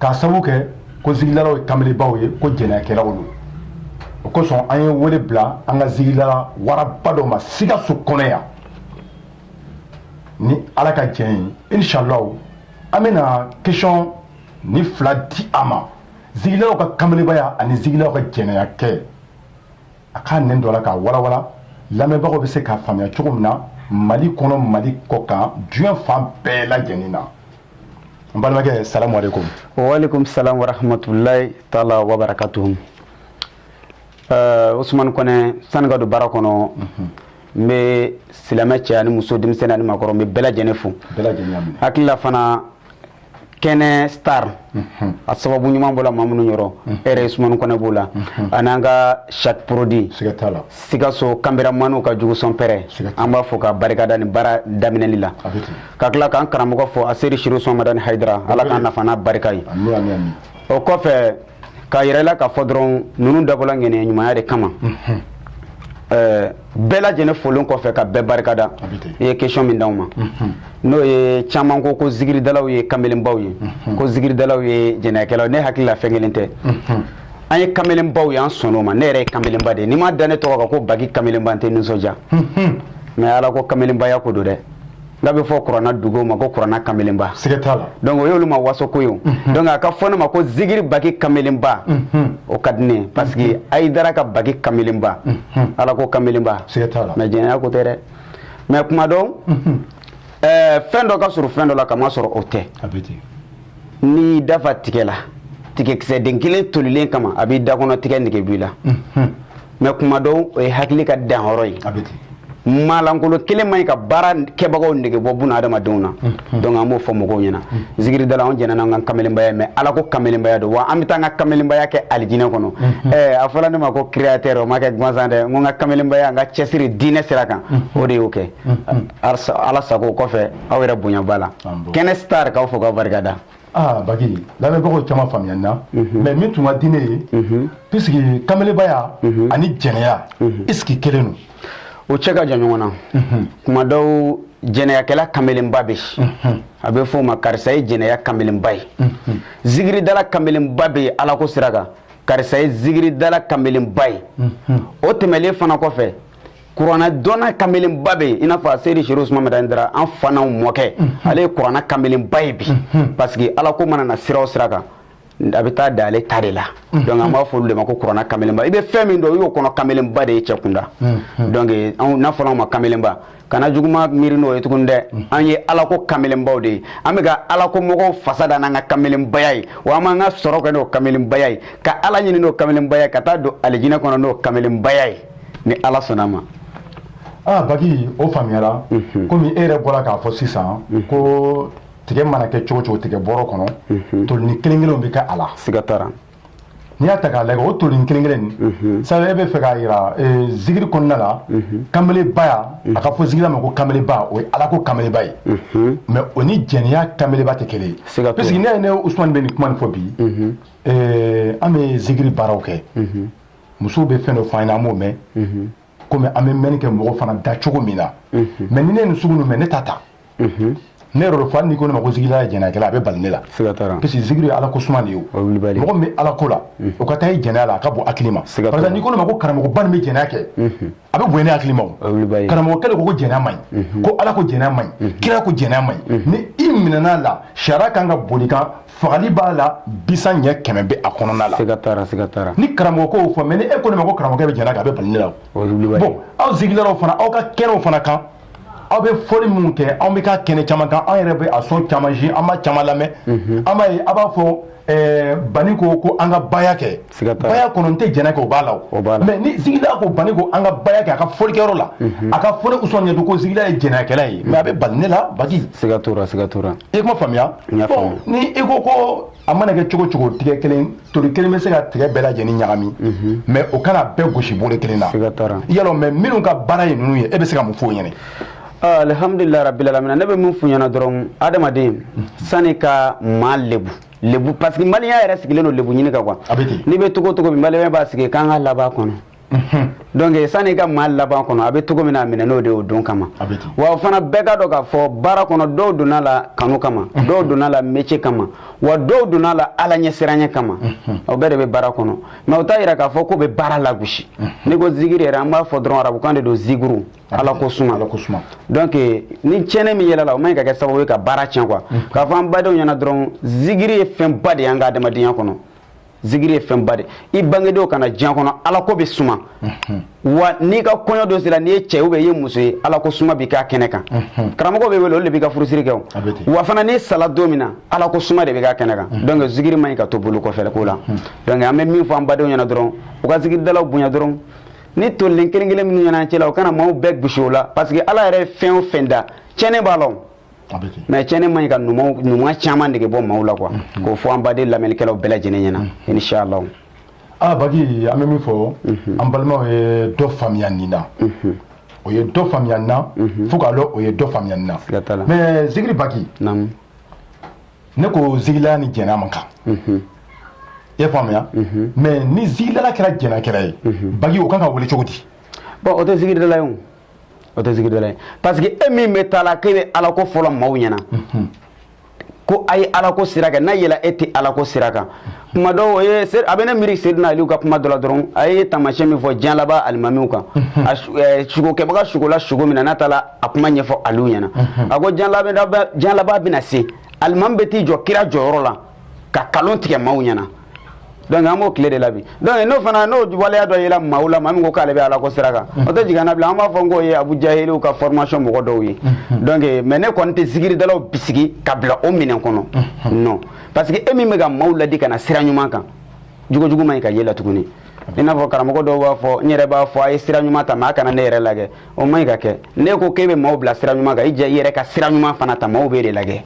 k'a sabu kɛ ko zikirilaw ye kamelenbaw ye ko jɛnɛyakɛlaw don o kosɔn an ye wele bila an ka zikirila waraba dɔ ma sikaso kɔnɔ yan ni ala ka jɛn ye inshallahu an bɛna question ni fila di a ma zikirilaw ka kamelenbaya ani zikirilaw ka jɛnɛya kɛ a k'a nɛn don o la k'a walawala lamɛnbagaw bɛ se k'a faamuya cogo min na mali kɔnɔ mali kɔkan diɲɛ fan bɛɛ lajɛlen na n balimakɛ salamu aleykum waaleykum salam warahmatulahi taala wabarakatuhu uh, usumani kɔnɛ sani ka don baara kɔnɔ mm -hmm. n bɛ silamɛ cɛ ani muso denmisɛnni ani maakɔrɔ n bɛ bɛɛ lajɛlen fo hakilila fana kɛnɛ star mhm. a sababu ɲuman bɔla maa minnu yɔrɔ mhm. e yɛrɛ usumani kɔnɛ b'o la mhm. an'an ka chaque produit sikaso kameramani ka jugusɔnpɛrɛ an b'a fo k'a barikada nin baara daminɛli la ka tila k'an karamɔgɔ fo aseyidi serifu usumani madani hayidara ala k'an nafa n'a barika ye o kɔfɛ k'a yira i la k'a fɔ dɔrɔn ninnu dabɔla ŋaniya ɲumanya de kama bɛɛ lajɛlen folen kɔfɛ ka bɛɛ barikada i ye question min d'anw ma n'o ye caman ko ko zikiridalaw ye kamelenbaw ye ko zikiridalaw ye jɛnɛyakɛlaw ne hakili la fɛn kelen tɛ an ye kamelenbaw y'an sɔnna o ma ne yɛrɛ ye kamelenba de ye n'i m'a da ne tɔgɔ kan ko baki kamelenba n tɛ nisɔndiya mais ala ko kamelenbaya ko don dɛ n'a bɛ fɔ kuranna duguw ma ko kuranna kamelenba siga t'a la donc o y'olu ma waso ko ye o donc a ka fɔ ne ma ko zikiri baki kamelenba o ka di ne ye parce que hayidara ka baki kamelenba ala ko kamelenba siga t'a la mais jɛnɛya ko tɛ dɛ mais kuma dɔw fɛn dɔ ka surun fɛn dɔ la k'a masɔrɔ o tɛ a bɛ ten n'i da fa tigɛ la tigɛkisɛden kelen tolilen kama a b'i da kɔnɔ tigɛ nege b'i la mais kuma dɔw o ye hakili ka danyɔrɔ ye maalankolon kelen man ɲi ka baarakɛbagaw nege bɔ buna adamadenw na donc an b'o fɔ mɔgɔw ɲɛna zikiridala anw jɛnna n'an ka kamalenbaya mais ala ko kamalenbaya don wa an bɛ taa an ka kamalenbaya kɛ alijinɛ kɔnɔ a fɔra ne ma ko créateur o ma kɛ gansan dɛ n ka kamalenbaya an ka cɛsiri diinɛ sira kan o de y'o kɛ ala sago o kɔfɛ aw yɛrɛ bonya b'a la kɛnɛ star k'aw fo k'aw barikada aa baki lamɛnbagaw caman faamuyana mhm. mais min tun ka di ne ye mhm. puisque kamelenbaya mhm. ani jɛnɛya est-ce que kelen don o cɛ ka jan ɲɔgɔn na kuma dɔw jɛnɛyakɛla kamelenba bɛ a bɛ fɔ a ma karisa ye jɛnɛya kamelenba ye zikiridala kamelenba bɛ yen alako sira kan karisa ye zikiridala kamelenba ye o tɛmɛlen fana kɔfɛ kuranɛ dɔnna kamelenba bɛ yen i n'a fɔ a seyidi serifu usumani madani hayidara an fa n'anw mɔkɛ ale ye kuranɛ kamelenba ye bi parce que ala ko mana na sira o sira kan a bɛ taa da ale ta de la donc an b'a fɔ olu de ma ko kuranɛ kamelenba i bɛ fɛn min dɔn i y'o kɔnɔ kamelenba de ye cɛ kunda donc n'a fɔra anw ma kamelenba kana juguma miiri n'o ye tuguni dɛ an ye alako kamelenbaw de ye an bɛ ka alako mɔgɔw fasa da n'an ka kamelenbaya ye wa an b'an ka sɔrɔ kɛ n'o kamelenbaya ye ka ala ɲini n'o kamelenbaya ye ka taa don alijinɛ kɔnɔ n'o kamelenbaya ye ni ala sɔnna ma aa baki o faamuyara mhm. komi e yɛrɛ bɔra k'a fɔ sisan mhm. ko tigɛ mana kɛ cogo cogo tigɛ bɔrɔ kɔnɔ mhm. tolini kelen kelenw bɛ kɛ a la siga t'a la n'i y'a ta k'a lajɛ o tolini kelen kelen nin sabu e bɛ fɛ k'a yira eh, zigiri kɔnɔna la kamelebaya a ka fɔ zigirila ma ko kameleba o ye ala ko kameleba ye mais o ni jɛnɛya kameleba tɛ kelen ye parce que ne ye ne usumani bɛ nin kuma nin fɔ bi eh, an bɛ zigiri baaraw kɛ musow bɛ fɛn dɔ fɔ an ɲɛna an b'o mɛn mhm. komi an bɛ mɛnni kɛ mɔgɔ fana da cogo min na mhm. mais ni ne ye nin sugu ninnu mɛn ne t'a ta mhm. ne yɛrɛ fa n'i ko ne ma ko zigirila ye jɛnɛyakɛla a bɛ bali ne la siga t'a la parce que zigiri ye ala ko suma de ye o mɔgɔ min bɛ ala ko la o ka taa i jɛnɛya la a ka bon hakili ma parce que n'i ko ne ma ko karamɔgɔba nin bɛ jɛnɛya kɛ a bɛ bonya ne hakili ma karamɔgɔ kɛlen ko ko jɛnɛya man ɲi mhm. ko ala ko jɛnɛya man ɲi mhm. kira ko jɛnɛya man ɲi mhm. ni i minɛna la sariya kan ka boli i kan fagali b'a la bisa ɲɛ kɛmɛ bɛ a kɔnɔna la siga t'a la siga t'a la ni karamɔgɔ k'o fɔ mais ni e ko ne ma ko karamɔgɔ bɛ jɛnɛya kɛ a bɛ bali ne la o bon aw zigirilaw fana aw ka kɛnɛw fana kan aw bɛ fɔli minnu kɛ anw bɛ ka kɛnɛ caman kan an yɛrɛ bɛ a son caman ye an b'a caman lamɛn mhm. an b'a ye a b'a fɔ eh, bani ko ko an ka baya kɛ baya kɔnɔ n tɛ jɛnɛya kɛ o b'a la o mais ni zigirila ko bani ko an ka baya kɛ a ka fɔlikɛyɔrɔ la mhm. a ka fɔli usɔn ɲɛtu ko zigirila ye jɛnɛyakɛla ye mais a bɛ bali ne la baki siga t'o la siga t'o la i kuma faamuya ni i ko ko a mana kɛ cogo cogo tigɛ kelen toli kelen bɛ se ka tigɛ bɛɛ lajɛlen ɲagami mhm. mais o kana bɛɛ gosi bolo kelen na alors maa minnu ka baara ye ninnu ye e bɛ se ka mun f'o ɲɛna ah, alhamdulilayi rabbil alamina ne bɛ min f'u ɲɛna dɔrɔn adamaden sani ka maa lebu lebu parce que maliyɛn yɛrɛ sigilen don lebu ɲini kan quoi n'i bɛ togo togo bi maliyɛn b'a sigi k'an ka laban kɔnɔ donc sani ka maa laban kɔnɔ a bɛ cogo min na a minɛ n'o de y'o don kama wa o fana bɛɛ ka dɔn k'a fɔ baara kɔnɔ dɔw donna la kanu kama dɔw donna la métier kama wa dɔw donna la ala ɲɛsiranya kama o bɛɛ de bɛ baara kɔnɔ mais o t'a yira k'a fɔ k'o bɛ baara lagosi n'i ko zigiri yɛrɛ an b'a fɔ dɔrɔn arabukan de don ziguru ala ko suma donc ni tiɲɛni min yɛlɛla o man ɲi ka kɛ sababu ye ka baara tiɲɛ quoi k'a fɔ an badenw ɲɛna dɔrɔn zigiri ye fɛnba de y'an ka adamadenya kɔnɔ zigiri ye fɛnba de i bange don ka na diɲɛ kɔnɔ ala ko bɛ suma mhm. wa n'i ka kɔɲɔ don sera n'i ye cɛ ou bien i ye muso ye ala ko suma bɛ k'a kɛnɛ kan mhm. karamɔgɔ bɛ wele olu de b'i ka furusiri kɛ o wa fana n'i sala don min na ala ko suma de bɛ k'a kɛnɛ kan mhm. donc zigiri man ɲi ka to bolo kɔfɛ ko la donc an bɛ min fɔ an badenw ɲɛna dɔrɔn u ka zigiridalaw bonya dɔrɔn ni tolilen kelen kelen minnu ɲɛna cɛ la u kana maaw bɛɛ gosi o la parce que ala yɛrɛ ye fɛn o fɛn da tiɲɛnen b'a la mais cɛni man ɲi ka ɲuman caman dege bɔ maaw la quoi mm-hmm. k'o fɔ an baden lamɛnnikɛlaw bɛɛ lajɛlen ɲɛna mm-hmm. inshallah aa ah, baki an bɛ min fɔ mm-hmm. an balimaw ye dɔ faamuya nin na o ye dɔ faamuya nin na fo k'a dɔn o ye dɔ faamuya nin na mais zigiri baki ne ko zigilala ni jɛnɛya man kan i y'a faamuya mais ni zigilala kɛra jɛnɛkɛla ye baki o kan ka wele cogo di bon o tɛ zigiridala ye o o tɛ zikiridala ye parce que e min bɛ taa la k'e bɛ ala ko fɔ la maaw ɲɛna ko a ye ala ko sira kɛ n'a yela e tɛ ala ko sira kan kuma dɔw o ye a bɛ ne miiri seydina aliw ka kuma dɔ la dɔrɔn a ye taamasiyɛn min fɔ diɲɛ laban alimamiw kan a sugokɛbaga sugola sugo min na n'a taara a kuma ɲɛfɔ aliw ɲɛna a ko diɲɛ laban bɛna se alimami bɛ t'i jɔ kira jɔyɔrɔ la ka kalon tigɛ maaw ɲɛna donc an b'o tile de la bi donc n'o fana n'o waleya dɔ yela maaw la maa min ko k'ale bɛ ala ko sira kan o tɛ jigin an na bilen an b'a fɔ n k'o ye abu jahiliw ka formation mɔgɔ dɔw ye donc mais ne kɔni tɛ zikiridalaw bisigi ka bila o minɛn kɔnɔ non parce que e min bɛ ka maaw ladi ka na sira ɲuman kan jogo jugu man ɲi ka y'e la tuguni i n'a fɔ karamɔgɔ dɔw b'a fɔ n yɛrɛ b'a fɔ a ye sira ɲuman ta mais a kana ne yɛrɛ lagɛ o man ɲi ka kɛ n'e ko k'e bɛ maaw bila sira ɲuman kan i jɛ i yɛrɛ ka sira ɲuman fana ta maaw b'e de lagɛ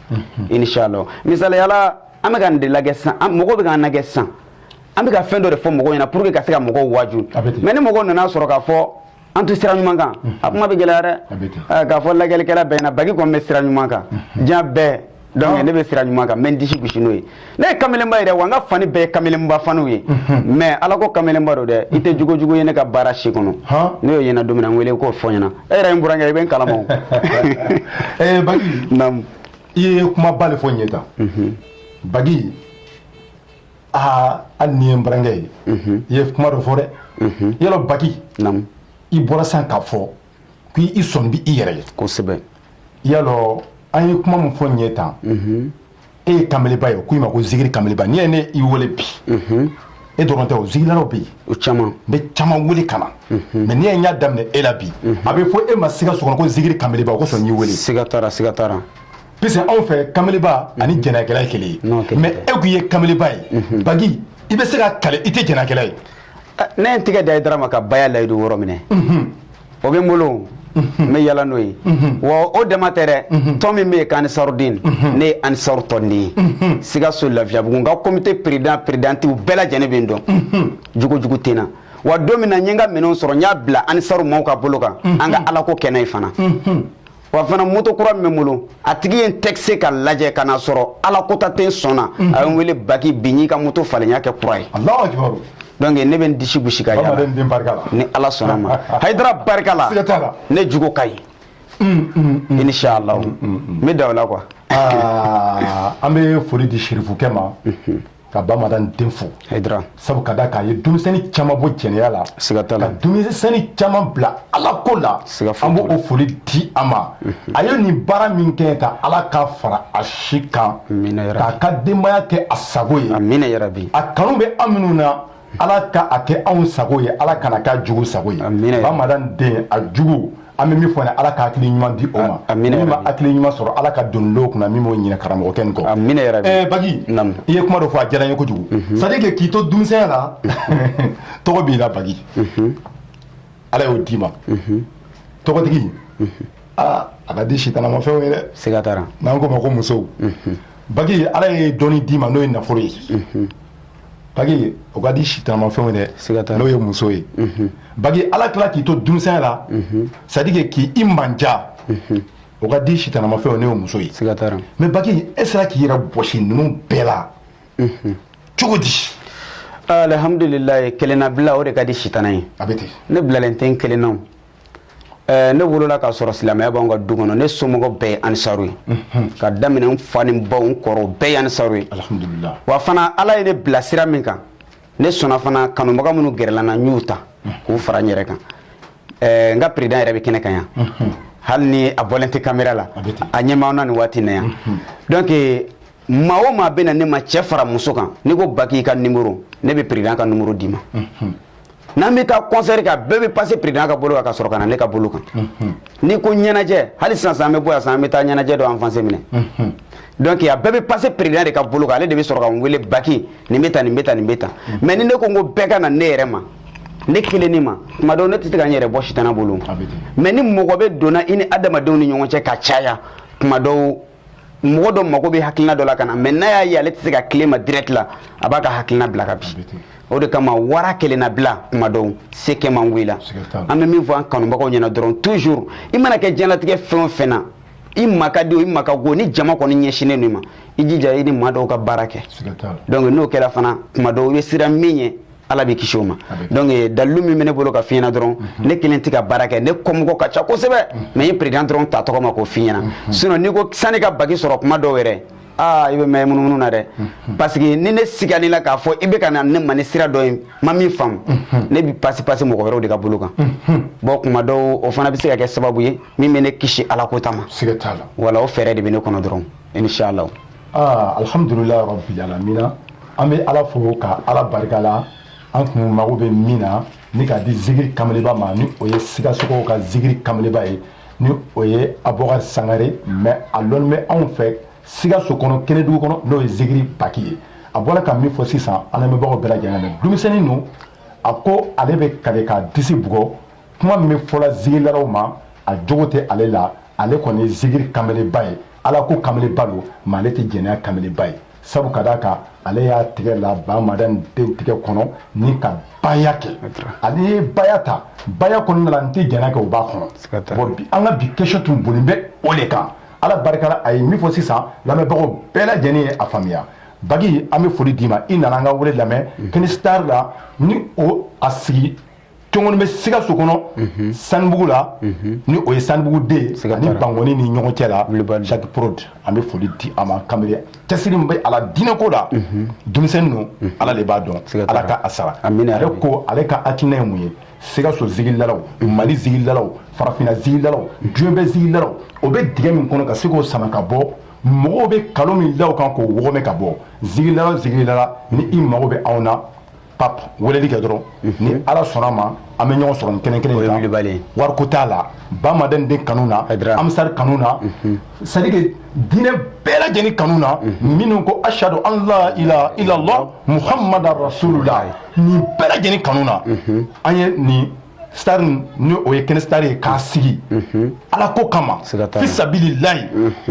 inshallah misaliya la an bɛ ka nin de lagɛ sisan an mɔgɔw bɛ k'an lagɛ sisan an bɛ ka fɛn dɔ de fɔ mɔgɔw ɲɛna pour que ka se ka mɔgɔw waaju mais ni mɔgɔw nan'a sɔrɔ k'a fɔ an tɛ sira ɲuman kan a kuma bɛ gɛlɛya dɛ eh, k'a fɔ lagɛlikɛla bɛɛ ɲɛna bagi kɔni bɛ sira ɲuman kan diɲɛ bɛɛ donc ne bɛ sira ɲuman kan n bɛ n disi gosi n'o ye ne ye kamelenba ye dɛ wa n ka fani bɛɛ ye kamelenba faniw ye mais ala ko kamelenba don dɛ i tɛ jogo jugu ye ne ka baara si kɔnɔ n'e y'o ye n na don min na n wele k'o fɔ n ɲɛna e yɛrɛ ye n burankɛ i bɛ n kalama o bagi i ye kumaba de fɔ nin ye tan bagi aa hali n'i ye n burankɛ ye i ye kuma dɔ fɔ dɛ i y'a lɔn bagi i bɔra san k'a fɔ k'i sɔn bɛ i yɛrɛ ye kosɛbɛ y'a dɔn an ye kuma min fɔ nin ye tan e ye kanbeleba ye k'i ma ko zigiri kanbeleba n'i ye ne y'i wele bi e dɔrɔn tɛ o zigilaraw bɛ yen o caman n bɛ caman wele ka na mhm. mais n'i ye n y'a daminɛ e la bi mhm. a bɛ fɔ e ma sikaso kɔnɔ ko zigiri kanbeleba o kosɔn n y'i wele siga t'a la siga t'a la puisque anw fɛ kanbeleba ani mhm. jɛnɛyakɛla ye kelen ye mais e k'i ye kanbeleba ye bagi i bɛ se ka kale i tɛ jɛnɛyakɛla ye ne ye n tɛgɛ di ayidara ma ka baya layidu wɔɔrɔ minɛ o bɛ n bolo n bɛ yala n'o ye wa o dama tɛ dɛ tɔn min bɛ yen ko ansarudin ne ye ansaru tɔnden ye sikaso lafiyabugu n ka komite pered peredantiw bɛɛ lajɛlen bɛ n dɔn jugujugu tɛ n na wa don min na n ye n ka minɛnw sɔrɔ n y'a bila ansaru maaw ka bolo kan an ka alako kɛnɛ ye fana wa fana moto kura min bɛ n bolo a tigi ye n tester ka lajɛ ka na sɔrɔ ala kota tɛ n sɔn na mhm. a ye n wele baki bi n y'i ka moto falen n y'a kɛ kura ye donc ne bɛ n disi gosi ka yala ni ala sɔnna ma hayidara barika la ne jogo ka ɲi mm, mm, mm. inshallah n bɛ da o la quoi ah, an bɛ foli di sirifukɛ ma mhm. ka bamadani den fo hayidara sabu ka da k'a ye denmisɛnnin caman bɔ jɛnɛya la siga t'a la ka denmisɛnnin caman bila ala ko la siga foyi an b'o foli di a ma a ye nin baara min kɛ ka ala k'a fara a si kan k'a ka denbaya kɛ a sago ye a kanu bɛ an minnu na ala ka a kɛ anw sago ye ala kana k'a jugu sago ye bamadani den a jugu an bɛ min fɔ ala ka hakili ɲuman di o ma a min ma hakili ɲuman sɔrɔ ala ka don dɔw kunna min b'o ɲini karamɔgɔkɛ nin kɔ amiina yarabi ɛɛ baki i ye kuma dɔ fɔ a diyara n ye kojugu mhm. c'est à dire que k'i to denmisɛnya la mhm. tɔgɔ b'i la baki mhm. ala y'o d'i ma tɔgɔtigi aa a ka di sitanamafɛnw ye dɛ siga t'a la n'an k'o ma ko musow baki ala ye dɔnni d'i ma n'o ye nafolo ye bagi o ka di sitanamafɛnw ye dɛ n'o ye muso ye bagi ala tila k'i to denmisɛnya la c'est à dire que k'i i manja o ka di sitanamafɛnw n'o ye muso ye mais bagi e sera k'i yɛrɛ bɔsi ninnu bɛɛ la cogo di alhamdulilayi kelenna bila o de ka di sitana ye a bɛ ten ne bilalen tɛ n kelennaw ne wolola k'a sɔrɔ silamɛya b'an ka du kɔnɔ ne somɔgɔ bɛɛ ye ansaru ye ka daminɛ n fa ni n baw n kɔrɔ bɛɛ ye ansaru ye wa fana ala ye ne bila sira min kan ne sɔnna fana kanubaga minnu gɛrɛla n na n y'u ta k'u fara n yɛrɛ kan n ka peredan yɛrɛ bɛ kɛnɛ kan yan hali ni a bɔlen tɛ kamera la a ɲɛ b'an na nin waati na yan donc maa o maa bɛ na ne ma cɛ fara muso kan n'i ko baki ka nimoro ne bɛ peredan ka nimoro d'i ma mhm. n'an bɛ taa kɔnsɛri kɛ a bɛɛ bɛ pase peredan ka bolo kan ka sɔrɔ ka na ne ka bolo kan mhm. n'i ko ɲɛnajɛ hali sisan sisan an bɛ bɔ yan sisan an bɛ taa ɲɛnajɛ dɔ avance minɛ mhm. donc a bɛɛ bɛ pase peredan de ka bolo kan ale de bɛ sɔrɔ ka n wele baki nin bɛ tan nin bɛ tan nin bɛ tan mais ni ne ko n ko bɛɛ ka na ne yɛrɛ ma ne kelenni ma tuma dɔw ne tɛ se ka n yɛrɛ bɔ sitana bolo mais ni mɔgɔ bɛ donna i ni adamadenw ni ɲɔgɔn cɛ ka caya tuma dɔw mɔgɔ dɔ mago bɛ hakilina dɔ la ka na mais n'a y'a ye ale tɛ se ka tilen ma direct la a b'a ka hakilina bila ka bin o de kama wara kelenna bila kuma dɔw se kɛ man go i la an bɛ min fɔ an kanubagaw ɲɛna dɔrɔn toujours i mana kɛ diɲɛlatigɛ fɛn o fɛn na i ma ka di o i ma ka go ni jama kɔni ɲɛsinnen don i ma i jija i ni maa dɔw ka baara kɛ donc n'o kɛra fana kuma dɔw i bɛ siran min ɲɛ ala b'i kisi o ma donc eh, dalilu min bɛ ne bolo ka f'i ɲɛna dɔrɔn mhm. ne kelen tɛ ka baara kɛ ne kɔmɔgɔ ka ca kosɛbɛ mhm. mais n ye président dɔrɔn ta tɔgɔ ma k'o f'i ɲɛna mhm. sinon n'i ko sani ka bagi sɔrɔ kuma dɔw yɛrɛ aa ah, i bɛ mɛn munumunu na dɛ parce que ni ne sigani la k'a fɔ i bɛ ka na ne ma ni sira dɔ ye n ma min faamu ne bɛ pasi pasi mɔgɔ wɛrɛw de ka bolo kan bon kuma dɔw o fana bɛ se ka kɛ sababu ye min bɛ ne kisi ala ko ta ma voilà o fɛɛrɛ de bɛ ne kɔnɔ dɔrɔn inshallah aa alhamdulilayi rabbil alamina an bɛ ala fo ka ala barika la an kun mago bɛ min na ni k'a di zikiri kameleba ma ni o ye sikasokaw ka zikiri kameleba ye ni o ye abubakar sangare mais a lɔnni bɛ anw fɛ sikaso kɔnɔ kɛnɛdugu kɔnɔ n'o ye zikiri baki ye a bɔra ka min fɔ sisan an lamɛnbagaw bɛɛ lajɛlen na denmisɛnnin don a ko ale bɛ kale k'a disi bugɔ kuma min bɛ fɔla zikirilaw ma a jogo tɛ ale la ale kɔni ye zikiri kameleba ye ala ko kameleba don mais ale tɛ jɛnɛya kameleba ye sabu ka d'a kan ale y'a tigɛ la bamadan den tigɛ kɔnɔ ni ka baya kɛ ale ye baya ta baya kɔnɔna la n tɛ jɛnɛya kɛ o b'a kɔnɔ bon bi an ka bi question tun boli bɛ o de kan ala barika la a ye min fɔ sisan lamɛnbagaw bɛɛ lajɛlen ye a faamuya baki an bɛ foli d'i ma i nana an ka wele lamɛn kɛnɛ star la ni o a sigi cogoni bɛ sikaso kɔnɔ mhm. sanubugu la mhm. ni o ye sanubugu deux ni bangoni ni ɲɔgɔn cɛ la jacques prod an bɛ foli di a ma kanbere cɛsiri bɛ ala diinɛko la mhm. denmisɛnnin don ala de b'a dɔn ala ka a sara ale ko ale ka hakilina ye mun ye sikaso zigilidalaw mali zigilidalaw farafina zigilidalaw diɲɛ bɛɛ zigilidalaw o bɛ dingɛ min kɔnɔ ka se k'o sama ka bɔ mɔgɔw bɛ kalon min da o kan k'o wɔgɔmɛ ka bɔ zigilidala zigilidala ni i mago bɛ anw na pape weleli kɛ dɔrɔn mhm. ni ala sɔnna ma an bɛ ɲɔgɔn sɔrɔ ni kɛnɛ kelen kan wariko t'a la bamadan den kanu na ansar kanu na mhm. c'est-à-dire que diinɛ bɛɛ lajɛlen kanu na mhm. minnu ko ashadu an la ilaha illallah muhammada rasulullah nin bɛɛ lajɛlen kanu na an ye nin star ni o ye kɛnɛ star ye k'a sigi ala ko kama fisabililayi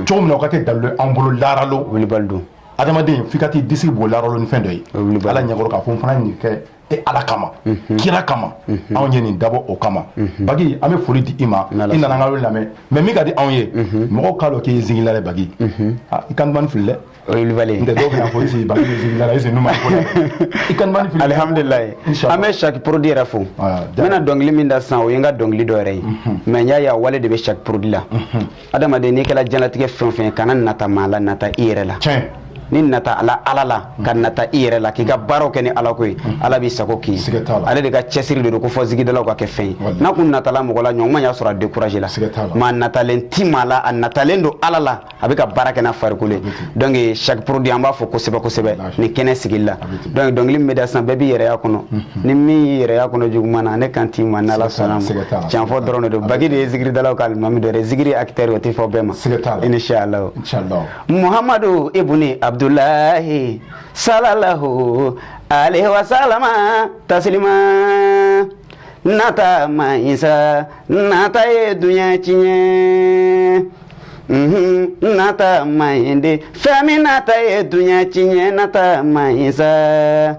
cogo min na o ka kɛ dalilu an bolo laara lon adamaden f'i ka t'i disi bɔ laara lon ni fɛn dɔ ye ala ɲɛkɔrɔ k'a fɔ n fana ye nin kɛ e ala kama mhm. kira kama mhm. anw ye nin dabɔ o kama mhm. bagi an bɛ foli di i ma i nana an ka wele lamɛn mais min ka di anw ye mɔgɔw k'a dɔn k'i ye zigilidala ye bagi ah, i kan dumannin fili dɛ olibali ntɛ dɔw bɛna fɔ est-ce bagi bɛ zigili la est-ce numa ko la i kan dumannin fili alihamudulilayi an bɛ jacques prod yɛrɛ fo ah, n bɛna dɔnkili min da sisan o ye n ka dɔnkili dɔ yɛrɛ ye mais n y'a ye a wale de bɛ jacques prod la adamaden n'i kɛra diɲɛlatigɛ fɛn o fɛn kana nata maa la nata i yɛrɛ la n'i natala ala la ka nata i yɛrɛ la k'i ka baaraw kɛ ni ala ko ye ala b'i sago kɛ ale de ka cɛsiri de don ko fɔ zigidalaw ka kɛ fɛn ye n'a kun natala mɔgɔ la ɲɔgɔn y'a sɔrɔ a découragé la mais a natalen ti maa la a natalen don ala la a bɛ ka baara kɛ n'a farikolo ye donc jacques prod an b'a fo kosɛbɛ kosɛbɛ ni kɛnɛ sigili la donc dɔnkili min bɛ da sisan bɛɛ b'i yɛrɛ y'a kɔnɔ ni min y'i yɛrɛ y'a kɔnɔ juguman na ne kan t'i ma n'ala sɔnna ma tiɲɛ fɔ dɔrɔn de don bagi de ye zikiridalaw ka alimami dɔ ye zikiri acteur o tɛ fɔ bɛɛ ma inishalaw muhamadu ibuni abdulahi salalahu alayhi wa salama tasilima nata man ɲi sa nata ye dunya tiɲɛ nata man ɲi de fɛn min nata ye duɲa tiɲɛ nata man ɲi sa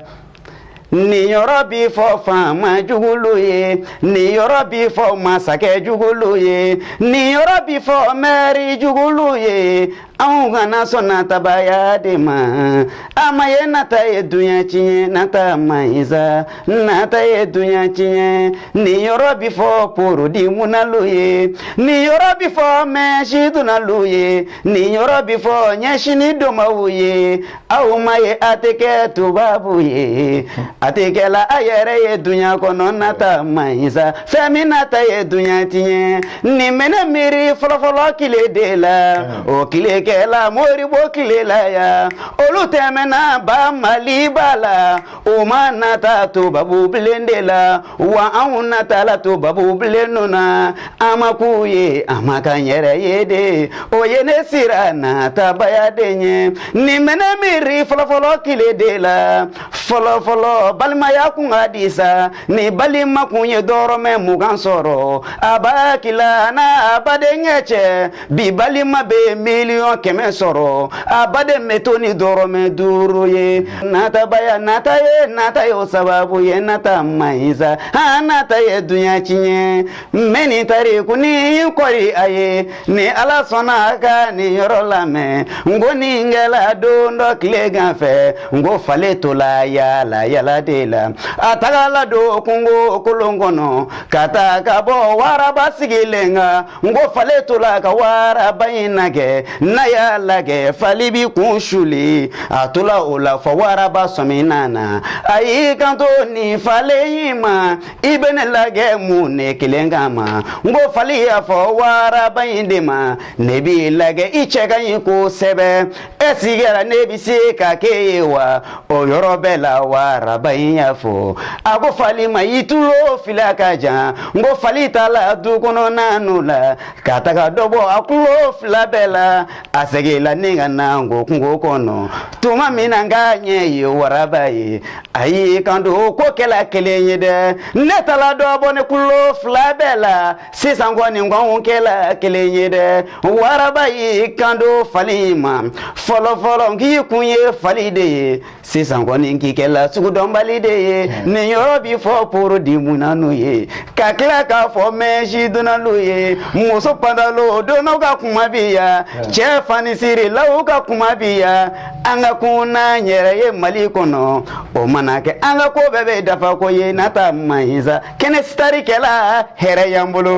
nin yɔrɔ bi fɔ faama jugulu ye nin yɔrɔ bi fɔ masakɛ jugulu ye nin yɔrɔ bi fɔ mɛri jugulu ye anw kana sɔn natabaya de ma a ma ye nata ye duɲa tiɲɛ nata man ɲi sa nata ye dunya tiɲɛ nin yɔrɔ bi fɔ porodi munnalu ye nin yɔrɔ bi fɔ mɛsi donnalu ye nin yɔrɔ bi fɔ ɲɛsini donbaw ye aw ma ye a tɛ kɛ tubabu ye a tɛ kɛla a yɛrɛ ye dunya kɔnɔ nata man ɲi sa fɛn min nata ye dunya tiɲɛ nin bɛ ne miiri fɔlɔfɔlɔ kile de la o kile kɛla moribo kile la yan olu tɛmɛna ba maliba la O ma nata tubabu bilen de la wa anw natala tubabu bilen ninnu na an ma k'u ye an ma k'an yɛrɛ ye de o ye ne siran natabaya de ɲɛ nin bɛ ne miiri fɔlɔfɔlɔ tile de la fɔlɔfɔlɔ balimaya kun ka di sa ni balima kun ye dɔrɔmɛ mugan sɔrɔ a b'a kila n'a badenkɛ cɛ bi balima bɛ miliyɔn kɛmɛ sɔrɔ a baden bɛ to ni dɔrɔmɛ duuru ye natabaya nata ye nata ye o sababu ye nata man ɲi sa han nata ye duɲa tiɲɛ n bɛ nin tariku nin kɔri a ye ni ala sɔnna a ka nin yɔrɔ lamɛn n ko nin kɛla don dɔ tilegan fɛ n ko fali tola yaala yaala de la a tagala don kungo kolon kɔnɔ ka taa ka bɔ waraba sigilen kan N ko fali tola ka waraba in lagɛ n'a y'a lagɛ fali b'i kun suli a tola o la fɔ waraba sɔmina na a y'i kanto nin fali in ma i bɛ ne lagɛ mun ne kelen kama n ko fali y'a fɔ waraba in de ma ne b'i lagɛ i cɛ ka ɲi kosɛbɛ E sigira ne bɛ se ka kɛ i ye wa o yɔrɔ bɛɛ la waraba in y'a fɔ a ko fali ma i tulo fila ka jan n ko fali taala du kɔnɔna n'o la ka taga dɔ bɔ a tulo fila bɛɛ la a seginla ni ka na n ko kungo kɔnɔ tuma min na ka ɲɛ ye waraba ye a y'i kanto ko kɛla kelen ye dɛ ne taala dɔ bɔ ne tulo fila bɛɛ la sisan kɔni k'anw kɛla kelen ye dɛ waraba y'i kanto fali ma fɔlɔfɔlɔ k'i kun ye fali de ye sisan kɔni k'i kɛla sugudɔnbali de ye hmm. nin yɔrɔ bi fɔ produit munnanu ye ka tila k'a fɔ mɛsi donnalu ye muso pantalo donnaw ka kuma bi ya hmm. cɛ fanisirilaw ka kuma bi ya an ka kun n'an yɛrɛ ye mali kɔnɔ o mana kɛ an ka ko bɛɛ bɛ dafa ko ye nata man ɲi sa kɛnɛ star kɛla hɛrɛ y'an bolo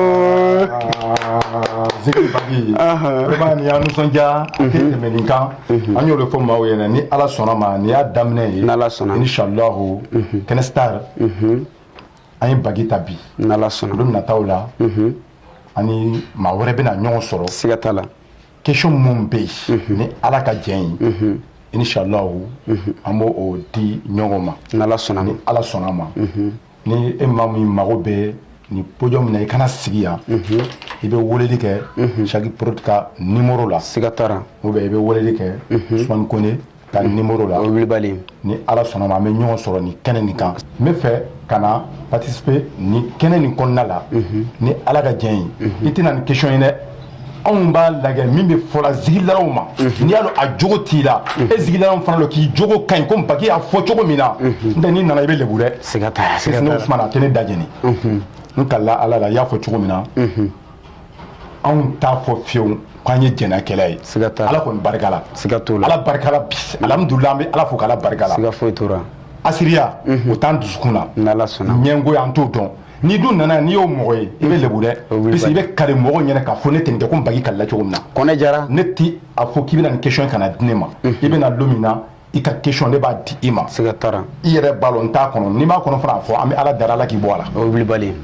zikiri bagi vraiment nin y'an nisɔndiya a tɛ tɛmɛ nin kan an y'o de fɔ maaw ye ni ala sɔnna ma nin y'a daminɛ ye n'ala sɔnna inshallahu kɛnɛ star an ye bagi ta bi n'ala sɔnna don nataw la ani maa wɛrɛ bɛna ɲɔgɔn sɔrɔ siga t'a la question minnu bɛ yen ni ala ka jɛn ye inshallahu an b'o o di ɲɔgɔn ma n'ala sɔnna ni ala sɔnna ma ni e maa min mago bɛ ni podium in na i kana sigiya i bɛ weleli kɛ chaque produit ka nimoro la siga t'a la ou bien i bɛ weleli kɛ usumani kɔnɛ ka nimoro la o wulibali ni ala sɔnna ma an bɛ ɲɔgɔn sɔrɔ ni kɛnɛ nin kan min bɛ fɛ ka na participer ni kɛnɛ nin kɔnɔna la ni ala ka jɛn ye i tɛna ni question ye dɛ anw b'a lajɛ min bɛ fɔla zikiridalaw ma mhm. n'i y'a dɔn a jogo t'i la mhm. e zikiridalaw fana dɔn k'i jogo ka ɲi komi baki y'a fɔ cogo min na mhm. n tɛ n'i nana i bɛ lebu dɛ siga t'a la siga t'a la sisan usumani a tɛ ne da jeni n kalila ala la i y'a fɔ cogo min na anw t'a fɔ fiyewu k'an ye jɛnɛkɛla ye siga t'a la ala kɔni barika la siga t'o la ala barika la bi alihamudulilayi an bɛ ala fo k'ala barika la siga foyi t'o la hasidiya o t'an dusukun na n'ala sɔnna ɲɛngoya an t'o dɔn Ni dun nana n'i y'o mɔgɔ ye i bɛ lebu dɛ parce que i bɛ kali mɔgɔ ɲɛna k'a fɔ ne tɛ nin kɛ ko Bagi kalila cogo min na, Kɔnɛ Jara, ne tɛ a fɔ k'i bɛna nin question in kana di ne ma, unhun, i bɛna don min na i ka question ne b'a di i ma, siga t'a la, i yɛrɛ b'a dɔn n t'a kɔnɔ n'i b'a kɔnɔ fana a fɔ an bɛ Ala deli Ala k'i bɔ a la, o ye wilibali ye,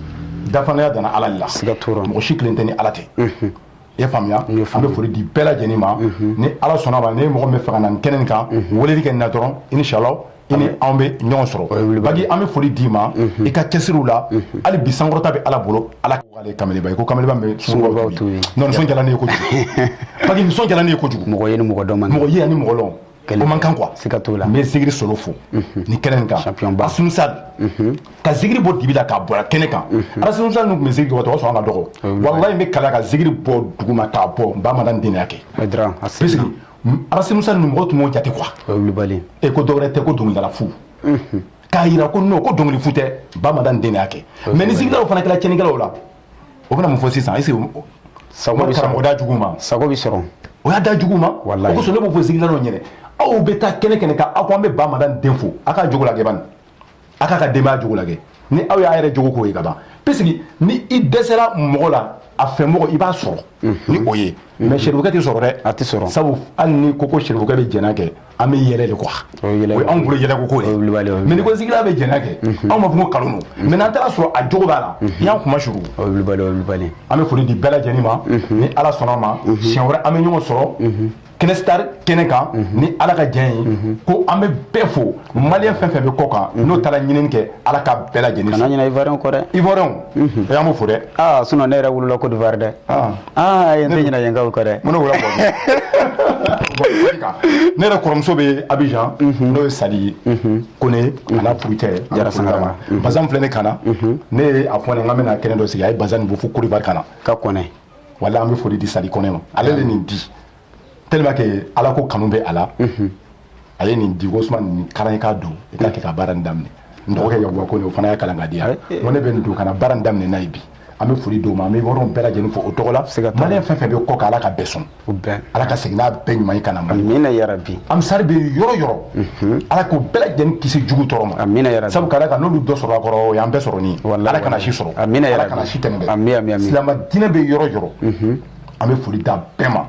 dafalenya danna Ala de la, siga t'o la, mɔgɔ si kelen tɛ ni Ala tɛ, unhun i ye faamuya an bɛ foli di bɛɛ lajɛlen ma ni ala sɔnna ma ni mɔgɔ bɛ fɛ ka na nin kɛnɛ kan weleli kɛ na dɔrɔn inshallah i ni anw bɛ ɲɔgɔn sɔrɔ baki an bɛ foli d'i ma i ka cɛsiriw la hali bi sankɔrɔta bɛ ala bolo ala kamalenba ko kamalenba bɛ nisɔndiyalen ye kojugu baki nisɔndiyalen ye kojugu mɔgɔ ye ni mɔgɔ dɔn mɔgɔ ye ni mɔgɔ dɔn man kan quoi siga t'o la n bɛ zikiri solo fo ni kɛnɛ in kan asunsa ka zikiri bɔ dibi la k'a bɔra kɛnɛ kan asunsa ninnu tun bɛ zikiri tɔgɔ sɔn ka dɔgɔ walayi n bɛ kala ka zikiri bɔ duguma k'a bɔ n ba madani de y'a kɛ parce que arasimusa ninnu mɔgɔ tun b'o jate quoi e ko dɔwɛrɛ tɛ ko dɔnkilidala fu k'a jira ko n'o ko dɔnkili fu tɛ ba madani de y'a kɛ mais ni zikiridalaw fana kɛra cɛnnikɛlaw la o bɛna mun fɔ sisan est-ce que sago bɛ sɔrɔ o da jugu ma sago bɛ sɔrɔ o y'a da jugu ma walayi o kosɔn ne b'o fɔ zikirila dɔ ɲɛnɛ aw bɛ taa kɛnɛ kɛnɛ kan aw ko an bɛ ba madani den fo a k'a jogo lagɛ bani a k'a ka denbaya jogo lagɛ ni aw y'a yɛrɛ jogo k'o ye ka ban puisque ni i dɛsɛra mɔgɔ la a fɛ mɔgɔ i b'a sɔrɔ ni o ye mais sɛrifukɛ tɛ sɔrɔ dɛ a tɛ sɔrɔ sabu hali ni ko ko sɛrifukɛ bɛ jɛnɛ kɛ an bɛ yɛlɛ de quoi o ye yɛlɛ o ye anw bolo yɛlɛko ko o ye wulibali ye, o ye mais ni ko zikirila bɛ jɛnɛ kɛ Mhm. anw b'a fɔ ko kalon don mais n'an taara sɔrɔ a jogo b'a la i y'an kuma suru o ye wulibali o ye wulibali an bɛ foli di bɛɛ lajɛlen ma Mhm. ni ala sɔnna ma Mhm. siɲɛ wɛrɛ an bɛ ɲɔgɔn sɔrɔ Mhm. kɛnɛ star kɛnɛ kan ni ala ka diɲɛ ye ko an bɛ bɛɛ fo maliyɛn fɛn fɛn bɛ kɔ kan n'o taara ɲinini kɛ ala ka bɛɛ lajɛlen kana ɲinɛ ivoiriyɛnw kɔ dɛ ivoiriyɛnw o y'an b'o fo dɛ aa sinon ne yɛrɛ wolola côte d'ivoire dɛ Ah. aa yen tɛ ɲinɛ yenkaw kɔ dɛ mun ne wolo bɔ ne yɛrɛ kɔrɔmuso bɛ abijan mhm. n'o ye sadi ye mhm. kɔnɛ mhm. a n'a furucɛ jara sangarama bazan filɛ ne kan na ne ye a fɔ a ɲɛ k'an bɛna kɛnɛ dɔ sigi a ye bazan nin bɔ fo côte d'ivoire ka na ka kɔnɛ wala an bɛ foli di sadi kɔnɛ ma ale de nin di tellement que ala ko kanu bɛ a la a ye nin di ko suma nin karan i k'a don i k'a kɛ ka baara nin daminɛ n dɔgɔkɛ yakuba kɔnɛ o fana y'a kalan k'a di yan n ko ne bɛ nin don ka na baara nin daminɛ n'a ye bi an bɛ foli d'o ma an bɛ yɔrɔw bɛɛ lajɛlen fo o tɔgɔ la maliyɛn fɛn fɛn bɛ kɔ kan ala ka bɛɛ sɔn ala ka segin n'a bɛɛ ɲuman ye ka na mali amina yarabi ansari bɛ yɔrɔ yɔrɔ ala k'o bɛɛ lajɛlen kisi jugu tɔɔrɔ ma amina yarabi sabu ka d'a kan n'olu dɔ sɔrɔ a kɔrɔ o y'an bɛɛ sɔrɔ ni ye ala kana si sɔrɔ amina yarabi ala kana si tɛmɛ dɛ amina amina silama diinɛ bɛ yɔrɔ yɔrɔ an bɛ foli d'a bɛɛ ma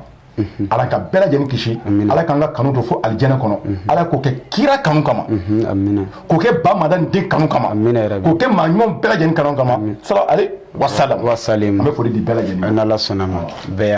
ala ka bɛɛ lajɛlen kisi ala k'an ka kanu to fo alijɛnɛ kɔnɔ ala k'o kɛ kira kanu kama k'o kɛ ba madani den kanu kama k'o kɛ maa ɲuman bɛɛ lajɛlen kanu kama salalahu alayhi wasalam an bɛ foli di bɛɛ lajɛlen sɔnna ma